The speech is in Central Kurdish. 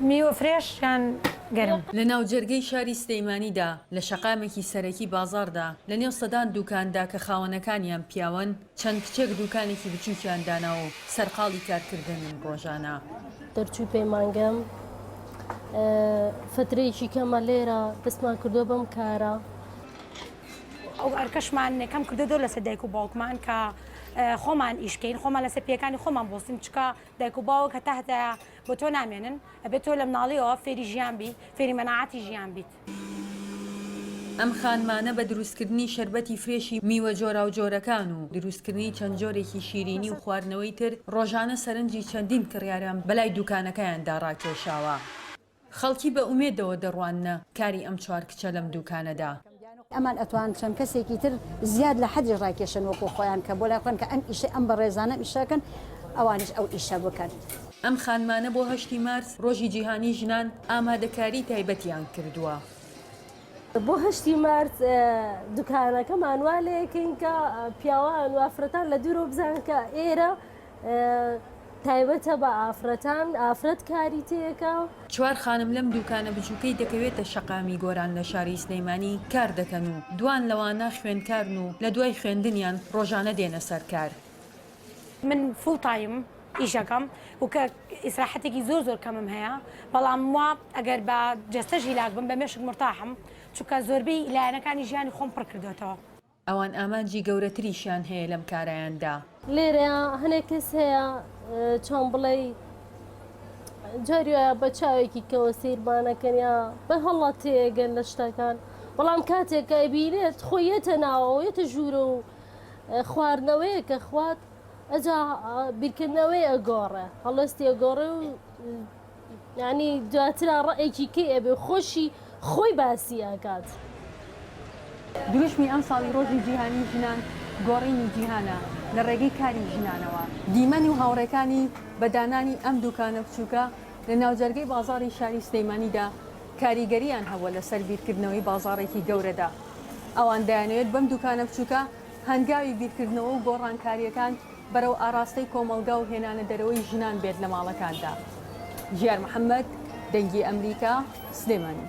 میوە فرێش یان گەرم. لە ناوجەرگەی شاری سلێمانیدا، لە شەقامێکی سەرەکی بازاڕدا، لە نێو سەدان دووکاندا کە خاوەنەکانیان پیاون، چەند کچێک دووکانێکی بچووکیان داناوە و سەرقاڵی کارکردنن ڕۆژانە. دەرچووی پەیمانگەم فترەیەکی کەمە لێرە، دەستمان کردووە بەم کارە. ئەو ئەرکەشمان کەم کردووە زۆر لەسەر دایک و باوکمان کە خۆمان ئیش بکەین، خۆمان لەسەر پێیەکانی خۆمان بوەستین، چونکە. دایک و باوک هەتا هەتایە بۆ تۆ نامێنن، ئەبێت تۆ لە مناڵیەوە فێری ژیان بی، فێری مەناعەتی ژیان بیت. ئەم خانمانە بە دروستکردنی شەربەتی فرێشی میوە جۆراوجۆرەکان و دروستکردنی چەند جۆرێکی شیرینی و خواردنەوەی تر، ڕۆژانە سەرنجی چەندین کڕیارم بەلای دوکانەکەیاندا ڕاکێشاوە. خەڵکی بە ئومێدەوە دەڕواننە کاری ئەم چوار کچە لەم دووکانەدا. ئەمان ئەتوان چەند کەسێکی تر زیاد لە حەدیش ڕاکێشن وەکو خۆیان کە بۆ لای خۆیان کە ئەم ئیشەی ئەم بەڕێزانە ئەم ئیشە کەن ئەوانیش ئەو ئیشە بکەن. ئەم خانمانە بۆ هەشتی مارس ڕۆژی جیهانی ژنان ئامادەکاری تایبەتیان کردووە. بۆ هەشتی مارس دوکانەکەمان وا لێکەین کە پیاوان و ئافرەتان لە دوورەوە بزانن کە ئێرە تایبەتە بە ئافرەتان ئافرەت کاری تێکە. چوار خانم لەم دووکانە بچووکەی دەکەوێتە شەقامی گۆران لە شاری سلێمانی کار دەکەن و دوان لەوانە خوێندکارن و لە دوای خوێندنیان ڕۆژانە دێنە سەر کار. من فوڵ تایم ئیشەکەم و کە ئیسراحەتێکی زۆر زۆر کەمم هەیە بەڵام وا ئەگەر بە جەستەش هیلاک بم بە مێشک مورتاحم چونکە زۆربەی لایەنەکانی ژیانی خۆم پڕ کردۆتەوە. ئەوان ئامانجی گەورەتریشیان هەیە لەم کارەیاندا. لێرەیا هەنێ کەس هەیە چۆن بڵێی جاری وایە بە چاوێکی کەوە سەیرمانەکەن یا بە هەڵە تێگەن لە شتەکان بەڵام کاتێک ئەبینێت خۆ یەتە ناوەوە یەتە ژوورە و خواردنەوەیە کە خوات ئەجا بیرکردنەوەی ئەگۆڕێ هەڵوێستی ئەگۆڕێ و یانی دواترا ڕەئێکی کەی ئەبێ خۆشی خۆی باسی ئەکات. دروشمی ئەمساڵی ڕۆژی جیهانی ژنان گۆڕینی جیهانە لە ڕێگەی کاری ژنانەوە. دیمەن و هاوڕێکانی بە دانانی ئەم دوکانە بچوکە لە ناوجەرگەی بازاڕی شاری سلێمانیدا کاریگەرییان هەبووە لەسەر بیرکردنەوەی بازاڕێکی گەورەدا ئەوان دەیانەوێت بەم دوکانە بچوکە هەنگاوی بیرکردنەوە و گۆڕانکارییەکان بەرەو ئاڕاستەی کۆمەڵگا و هێنانە دەرەوەی ژنان بێت لە ماڵەکاندا. ژیار محەمەد، دەنگی ئەمریکا، سلێمانی.